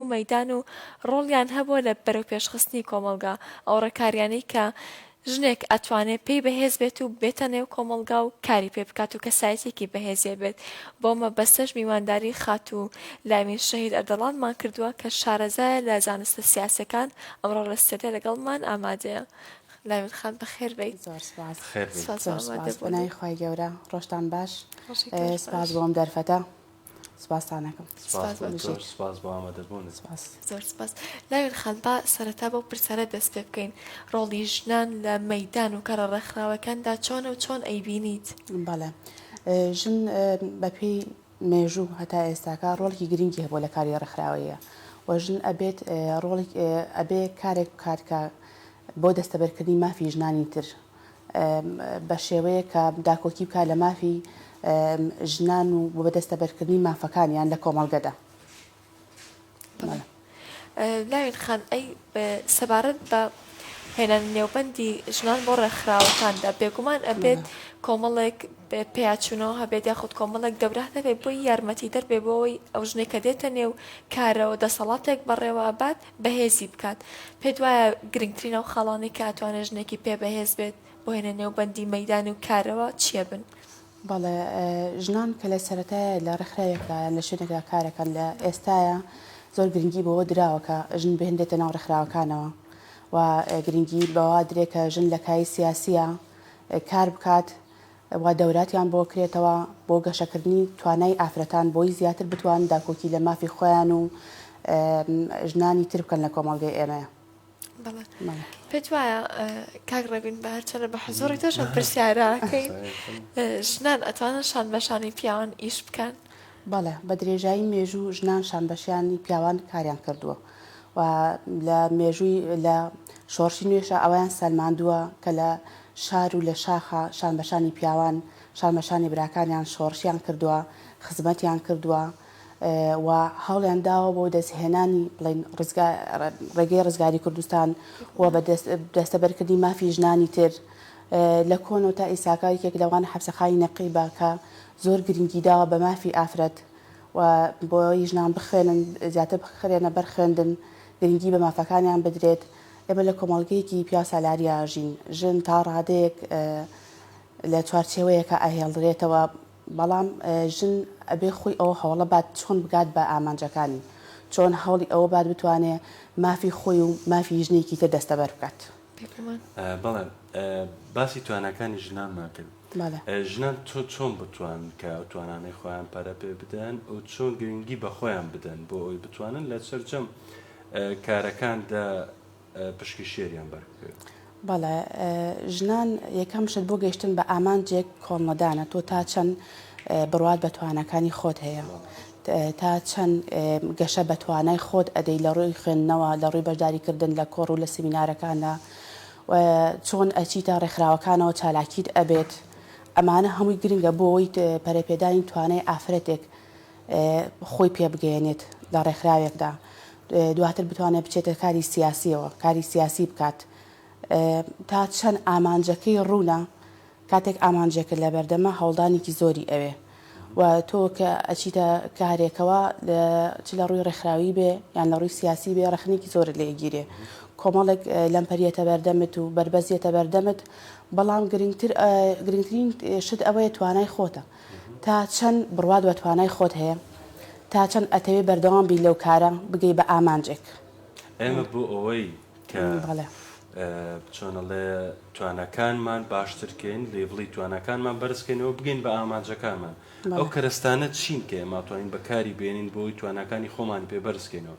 مەیدان و ڕۆڵیان هەبووە لە بەرەوپێشخستنی کۆمەڵگا، ئەو ڕێکاریانەی کە ژنێک ئەتوانێ پێی بەهێز بێت و بێتە نێو کۆمەڵگا و کاری پێ بکات و کەسایەتیەکی بەهێزێ بێت، بەو مەبەستەش میوانداری خاتوو لایمین شەهید ئەردەڵانمان کردووە کە شارەزایە لە زانستە سیاسیەکان ئەمڕۆ لە ستێدیۆ لەگەڵمان ئامادەیە. لایمین خان بەخێر بێی. زۆر سوپاس. بەخێر بێی. زۆر سوپاس بۆ ئامادە بوونت. پەنای خوای گەورە. ڕۆژتان باش. ڕۆژی تۆش باش. سوپاس بۆ ئەم دەرفەتە. سپاستان ئەکەم سپاس بۆ ئەمەش. زۆر سپاس بۆ ئامادەبوونت. سپاس. زۆر سپاس. لاوێن خان با سەرەتا بەو پرسانە دەست پێ بکەین، ڕۆڵی ژنان لە مەیدان و کارە ڕێکخراوەکاندا چۆنە و چۆن ئەیبینیت؟ بەڵێ. ژن بە پێی مێژوو هەتا ئێستاکە ڕۆڵێکی گرنگی هەبووە لە کاری ڕێکخراوەییە و ژن ئەبێت ڕۆڵێک ئەبێ کارێک بکات کە بۆ دەستەبەرکردنی مافی ژنانی تر بە شێوەیەک کە داکۆکی بکات لە مافی ژنان و بە دەستەبەرکردنی مافەکانیان لە کۆمەڵگەدا. لاوین خان، ئەی سەبارەت بە هێنانی نێوبەندی ژنان بۆ ڕێکخراوەکاندا، بێگومان ئەبێت کۆمەڵێک پێیاچوونەوە هەبێت یاخود کۆمەڵێک دەورە هەبێت بۆی یارمەتیدەر بێت بۆ ئەوەی ئەو ژنێک کە دێتە نێو کارەوە دەسەڵاتێک بەڕێوە بات، بەهێزی بکات، پێت وایە گرنگترین ئەو خاڵانەی کە ئەتوانێت ژنێکی پێ بەهێز بێت بۆ هێنە نێو بەندی مەیدان و کارەوە چییە بن؟ بەڵێ ژنان کە لە سەرەتای لە ڕێکخراوێکدا یان لە شوێنێکدا کارەکەن لە ئێستاە زۆر گرنگی بەوە دراوە کە ژن بهێنرێتە ناو ڕێکخراوەکانەوە و گرنگی بەوا درێ کە ژن لە کای سیاسیە کار بکات وا دەوراتیان بۆ کرێتەوە بۆ گەشەکردنی توانای ئافرەتان بۆی زیاتر بتوان داکۆکی لە مافی خۆیان و ژنانی تر بکەن لە کۆمەڵگەی ئێمەیە. بەڵێ پێت وایە کاک ڕێبین بە هەرچەنە بە حزۆڕی تۆشم پرسیارەکەی ژنان ئەتوانن شان بەشانی پیاوان ئیش بکەن بەڵێ بە درێژایی مێژوو ژنان شانبەشیانی پیاوان کاریان کردووە و لە مێژووی لە شۆڕشی نوێشە ئەوەیان سەلماندووە کە لە شار و لە شاخا شانبەشانی پیاوان شانبەشانی براکانیان شۆڕشیان کردووە خزمەتیان کردووە و هەوڵیان داوە بۆ دەستهێنانی بڵین ڕزگا ڕێگەی ڕزگاری کوردستان و بە دەستەبەرکردنی مافی ژنانی تر لە کۆنەوە تا ئیساکە یەکێک لەوان حەبسەخانی نەقیبە کە زۆر گرنگی داوە بە مافی ئافرەت و بۆی ژنان بخوێنن زیاتر بخرێنە بەر خوێندن گرنگی بە مافەکانیان بدرێت ئێمە لە کۆمەڵگەیەکی پیا سالاریا ژین ژن تا ڕادەیەک لە چوارچێوەیەکە ئاهێڵدرێتەوە بەڵام ژن ئەبێ خۆی ئەوە هەوڵە بات چۆن بگات بە ئامانجەکانی چۆن هەوڵی ئەوە بات بتوانێ مافی خۆی و مافی ژنێکی تر دەستەبەر بکات. بەڵێ باسی تواناکانی ژنانمان کرد ژنان تۆ چۆن بتوان کە ئەو توانانەی خۆیان پەرە پێ بدەن و چۆن گرنگی بە خۆیان بدەن بۆ ئەوی بتوانن لە سەررجەم کارەکاندا پشکی شێریان بەرکرد. بەڵێ ژنان یەکەم شت بۆ گەشتن بە ئامانجێک کۆڵنەدانە تۆ تا چەند بڕوات بە توانەکانی خۆت هەیە تا چەند گەشە بە توانای خۆت ئەدەی لە ڕووی خوێندنەوە، لە ڕووی بەشداری کردن لە کۆڕ و لە سیمینارەکاندا و چۆن ئەچیتە ڕێکخراوەکانەوە چالاکیت ئەبێت، ئەمانە هەمووی گرنگە بۆ ئەوەی پەرەپێدانی توانای ئافرەتێک خۆی پێ بگەیەنێت لە ڕێکخراوێکدا دواتر بتوانێت بچێتە کاری سیاسیەوە کاری سیاسی بکات تا چەند ئامانجەکەی ڕوونە، کاتێک ئامانجێکت لەبەردەمە هەوڵدانێکی زۆری ئەوێ و تۆ کە ئەچیتە کارێکەوە چ لەڕووی ڕێکخراوی بێ یان لەڕووی سیاسی بێ ڕەخنێکی زۆرت لێ ئەگیرێ کۆمەڵێک لەمپەر یەتە بەردەمت و بەربەست یەتە بەردەمت بەڵام گرنگتر گرنگترین شت ئەوەیە توانای خۆتە تا چەند بڕوات بە توانای خۆت هەیە تا چەند ئەتەوێ بەردەوام بی لەو کارە بگەی بە ئامانجێک. ئێمە بۆ ئەوەی کە چۆن ئەڵێ توانەکانمان باشترکەین لێڤڵی توانەکانمان بەرزکەینەوە بگەین بە ئامانجەکانمان ئەو کەرەستانە چین کە ئێماتوانین بەکاری بێنین بۆی توانەکانی خۆمان پێ بەرزکەینەوە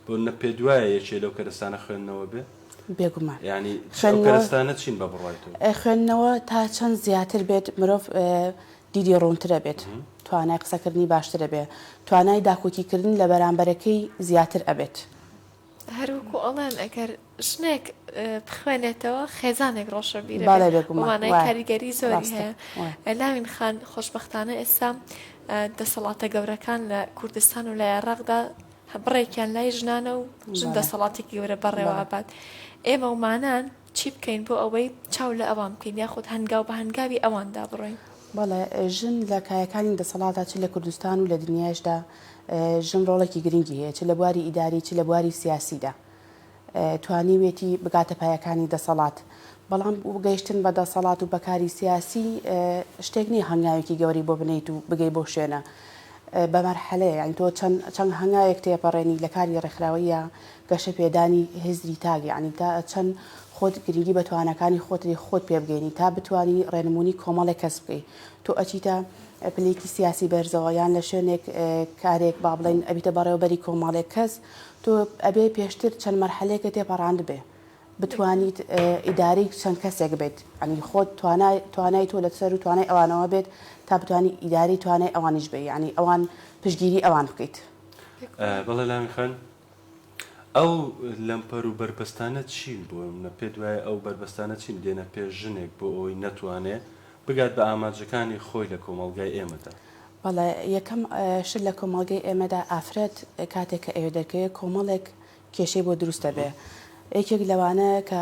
بۆ نە پێ دوایە یەکێ لەو کەرەستانە خوێندنەوە بێ بێگومان ینی خوێنەرستانە چین بە بڕایت خوێندنەوە تا چەند زیاتر بێت مرۆڤ دیدی ڕوونترە بێت توانای قسەکردنی باشترە بێ توانای داکۆکیکردن لە بەرامبەرەکەی زیاتر ئەبێت. هەروەکو ئەڵێن ئەگەر ژنێک بخوێنێتەوە خێزانێک ڕۆشە بیرەوانای کاریگەری زۆری هەیە لاوین خان خۆشببختانە ئێستا دەسەڵاتە گەورەکان لە کوردستان و لە عێراقدا بڕێکیان لای ژنانە و ژن دەسەڵاتی گەورە بەڕێوە بات ئێمە ومانان چی بکەین بۆ ئەوەی چاو لە ئەوان بکەین یاخود هەنگاو بە هەنگاوی ئەواندا بڕۆین؟ بەڵێ، ژن لە کایەکانی دەسەڵاتدا چ لە کوردستان و لە دنیایشدا ژن ڕۆڵێکی گرنگی هەیە، چ لە بواری ئیداری، چ لە بواری سیاسیدا توانیوێتی بگاتە پایەکانی دەسەڵات، بەڵام گەیشتن بە دەسەڵات و بە کاری سیاسی شتێک نییە هەنگاوێکی گەورەی بۆ بنێیت و بگەی بەو شوێنە، بە مەرحەلەیە، یانی تۆ چەند هەنگاوێک تێپەڕێنی لە کاری ڕێکخراوەییە گەشەپێدانی هزری تاک یانی تا چەند خۆت گرنگی بە تواناکانی خۆت دەدەی خۆت پێ بگەینی تا بتوانی ڕێنمونی کۆمەڵێک کەس بکەی تۆ ئەچیتە پلەیەکی سیاسی بەرزەوە یان لە شوێنێک کارێک با بڵێن ئەبیتە بەڕێوەبەری کۆمەڵێک کەس تۆ ئەبێ پێشتر چەند مەرحەلەیەکە تێپەڕاندبێ بتوانیت ئیداری چەند کەسێک بێت ئەنی خۆت توانای توانای تۆ لە سەر و توانای ئەوانەوە بێت تا بتوانی ئیداری توانای ئەوانیش بێ ینی ئەوان پشگیری ئەوان بکەیت بەڵێ لامی خان ئەو لەمپەر و بەربەستانە چین؟ بۆ نمونە پێت وایە ئەو بەربەستانە چین دێنە پێش ژنێک بۆ ئەوەی نەتوانێ بگات بە ئامانجەکانی خۆی لە کۆمەڵگای ئێمەدا؟ بەڵێ یەکەم شت لە کۆمەڵگەی ئێمەدا ئافرەت کاتێک کە ئەوێ دەرکەوێ کۆمەڵێک کێشەی بۆ دروست دەبێ یەکێک لەوانە کە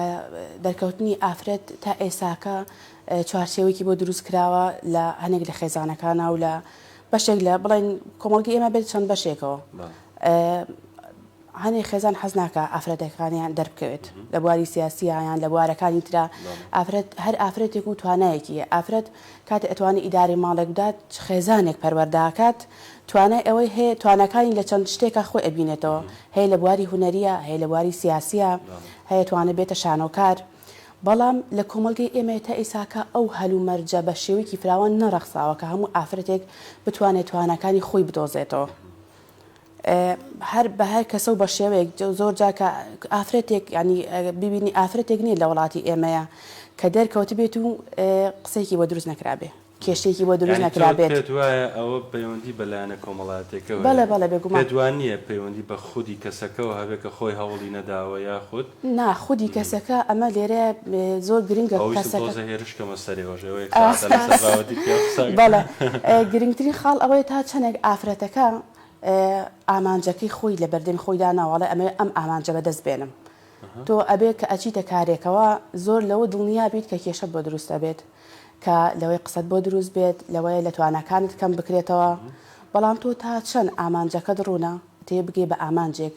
دەرکەوتنی ئافرەت تا ئێساکە چوارچێوەیەکی بۆ دروست کراوە لە هەنێک لە خێزانەکانە و لە بەشێک لە بڵێن کۆمەڵگەی ئێمە بێت چەند بەشێکەوە هەنێ خێزان حەز ناکە ئافرەتەکانیان دەربکەوێت لە بواری سیاسییان لە بوارەکانی تررا ئافرەت هەر ئافرەتێک و توانایەکی ئافرەت کات ئەتوانی ئیداری ماڵێک بدات خێزانێک پەروەرداکات توانای ئەوەی هەیە توانەکانی لە چەند شتێکە خۆی ئەبینێتەوە هەیە لە بواری هوەریە هەیە لە بواری سیاسیە هەیە توانە بێتە شانۆکار. بەڵام لە کۆمەلگەی ئێمە تا ئیساکە ئەو هەل و مەرجە بە شێوەیەکی فراوان نەڕەخساوە کە هەموو ئافرەتێک بتوانێت توانەکانی خۆی بدۆزێتەوە. هەر بە هەر کەسە و بە شێوەیەک زۆر جار کە ئافرەتێک یعنی ببینی ئافرەتێک نییە لە وڵاتی ئێمەیە کە دەرکەوتبێت و قسەیەکی بۆ دروست نەکرابێ کێشەیەکی بۆ دروست یعنی تۆ نەکرابێت پێت وایە ئەوە پەیوەندی بە لایەنە کۆمەڵایەتیەکەوە بەڵێ هەیە؟ بەڵێ بێگومان. پێت وانییە پەیوەندی بە خودی کەسەکەوە هەبێ کە خۆی هەوڵی نەداوە یاخود نا خودی کەسەکە ئەمە لێرە زۆر گرنگە کەسەکە. ئەوەویستم تۆزێ هێرش بکەمە سەرێ وەش ئێوە یەک سەعاتە لەسەر بابەتی پیاو قسە ئەکەن. بەڵێ گرنگترین خاڵ ئەوەیە تا چەندێک ئافرەتەکە ئامانجەکەی خۆی لە بەردەمی خۆی داناوە ئەڵێ ئەمەوێ ئەم ئامانجە بە دەست بێنم تۆ ئەبێ کە ئەچیتە کارێکەوە زۆر لەوە دڵنیا بیت کە کێشەت بۆ دروست ئەبێت کە لەوەی قسەت بۆ دروست بێت لەوەیە لە تواناکانت کەم بکرێتەوە بەڵام تۆ تا چەند ئامانجەکەت ڕوونە تێبگەی بە ئامانجێک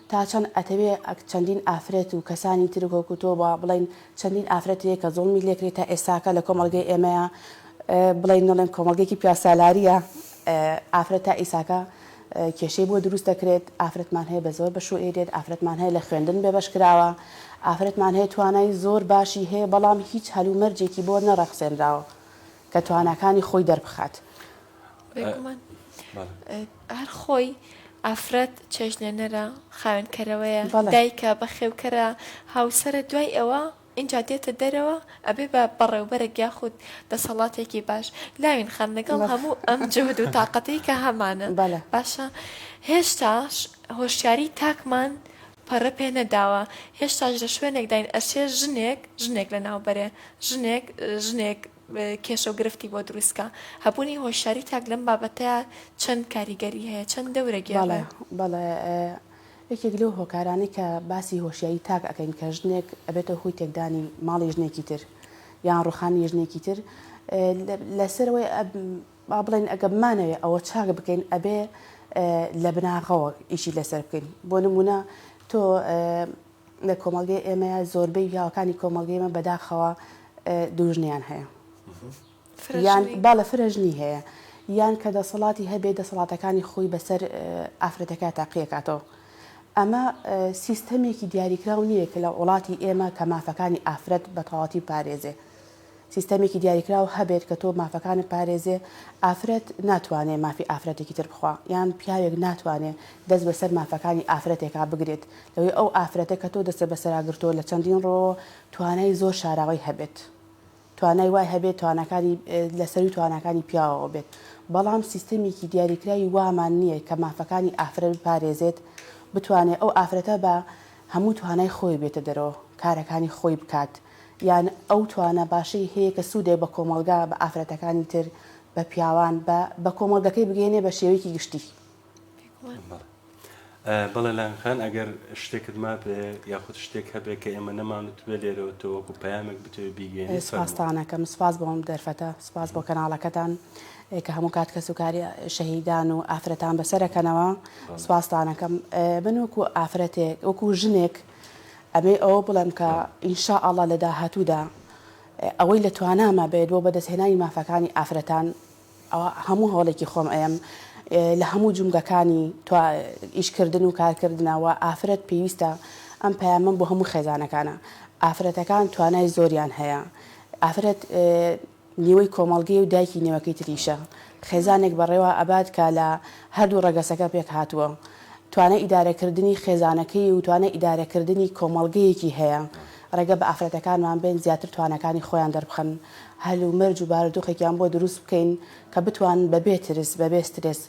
تا چەند ئەتەوێ چەندین ئافرەت و کەسانی تر وەکو تۆ با بڵێین چەندین ئافرەت هەیە کە زوڵمی لێکرێ تا ئێستاکە لە کۆمەڵگەی ئێمەیە بڵێین نەڵێم کۆمەڵگەیەکی پیاوسالاریە ئافرەت تا ئیساکە کێشەی بۆ دروست دەکرێت ئافرەتمان هەیە بە زۆر بە شوو ئێرێت ئافرەتمان هەیە لە خوێندن بێ بەش کراوە ئافرەتمان هەیە توانای زۆر باشی هەیە بەڵام هیچ هەلومەرجێکی بۆ نەڕەخسێنراوە کە تواناکانی خۆی دەربخات هەر خۆی ئافرەت چێژلێنەرە خاوێنکەرەوەیە دایکە بەخێوکەرە هاوسرە دوای ئەوە ئینجا دێتە دەرەوە ئەبێ بە بەڕێوبەرێک یاخود دەسەڵاتێکی باش لاوین خان لەگەڵ هەموو ئەم جهد و تااقەتی کە هەمانە باشە هێشتاش هۆشیاری تاکمان پەڕە پێ نەداوە هێشتاش لە شوێنێکداین ئەسێ ژنێک ژنێک لە ناوبەرێ ژنێک ژنێک کێشەو گرفتی بۆ دروستکا هەبوونی هۆشیاری تاک لەم بابەتە چەند کاریگەری هەیە چەند دەورە گێڕە؟ بەڵێ یەکێک لەو هۆکارانەی کە باسی هۆشیایی تاک ئەکەین کە ژنێک ئەبێتە هۆی تێکدانی ماڵی ژنێکی تر یان ڕوخانی ژنێکی تر لەسەرەوەی با بڵێن ئەگە بمانەوێ ئەوە چاک بکەین ئەبێ لە بناغەوە ئیشی لەسەر بکەین بۆ نمونە تۆ لە کۆمەڵگەی ئێمەیا زۆربەی پیاوەکانی کۆمەڵگەی ئێمە بەداخەوە دووژنەیان هەیە یان با لە فرەژنی هەیە یان کە دەسەڵاتی هەبێ دەسەڵاتەکانی خۆی بەسەر ئافرەتەکە تاقیەکاتەوە ئەمە سیستەمێکی دیاریکراو نییە کە لە وڵاتی ئێمە کە مافەکانی ئافرەت بە تەواتی پارێزێ سیستەمێکی دیاریکراو هەبێت کە تۆ مافەکانت پارێزێ، ئافرەت ناتوانێ مافی ئافرەتێکی تر بخوا، یان پیاوێک ناتوانێ دەست بەسەر مافەکانی ئافرەتێکا بگرێت، لەوەی ئەو ئافرەتە کە تۆ دەستت بەسەرا گرتووە لە چەندین ڕووەوە توانای زۆر شاراوەی هەبێت، توانای وای هەبێت تواناکانی لە سەرووی تواناکانی پیاوەوە بێت، بەڵام سیستەمێکی دیاریکراوی وامان نییە کە مافەکانی ئافرەت بپارێزێت، بتوانێ ئەو ئافرەتە بە هەموو توانای خۆی بێتە دەرەوە کارەکانی خۆی بکات، یان ئەو توانا باشەی هەیە کە سوودێک بە کۆمەڵگا، بە ئافرەتەکانی تر، بە پیاوان، بە بە کۆمەڵگەکەی بگەیەنێ بە شێوەیەکی گشتی. بەڵێ. بەڵێ لایەن خان ئەگەر شتێکت مابێ یاخود شتێک هەبێ کە ئێمە نەمانوتبێ لێرەوە تۆ وەکو پەیامێک بتەوێ بیگەیەنی فەرموو. سپاستان ئەکەم. سپاس بۆ ئەم دەرفەتە. سپاس بۆ کەناڵەکەتان کە هەموو کات کەسوکاری شەهیدان و ئافرەتان بەسەر ئەکەنەوە. سپاستان ئەکەم. من وەکو ئافرەتێک، وەکو ژنێک، ئەبێ ئەوە بڵێم کە ان شاء اللە لە داهاتوودا ئەوەی لە تواناما بێت بۆ بەدەستهێنانی مافەکانی ئافرەتان ئەوە هەموو هەوڵێکی خۆم ئەیەم لە هەموو جومگەکانی توا ئیشکردن و کارکردنا و ئافرەت پێویستە ئەم پەیامەم بۆ هەموو خێزانەکانە ئافرەتەکان توانای زۆریان هەیە ئافرەت نیوەی کۆمەڵگەی و دایکی نێوەکەی تریشە خێزانێک بەڕێوە ئەبات کە لە هەردوو ڕەگەسەکە پێکهاتووە توانای ئیدارەکردنی خێزانەکەی و توانای ئیدارەکردنی کۆمەڵگەیەکی هەیە ڕێگە بە ئافرەتەکانمان بەین زیاتر تواناکانی خۆیان دەربخەن هەل و مەرج و بارودۆخێکیان بۆ دروست بکەین کە بتوانن بەبێ ترس بەبێ سترێس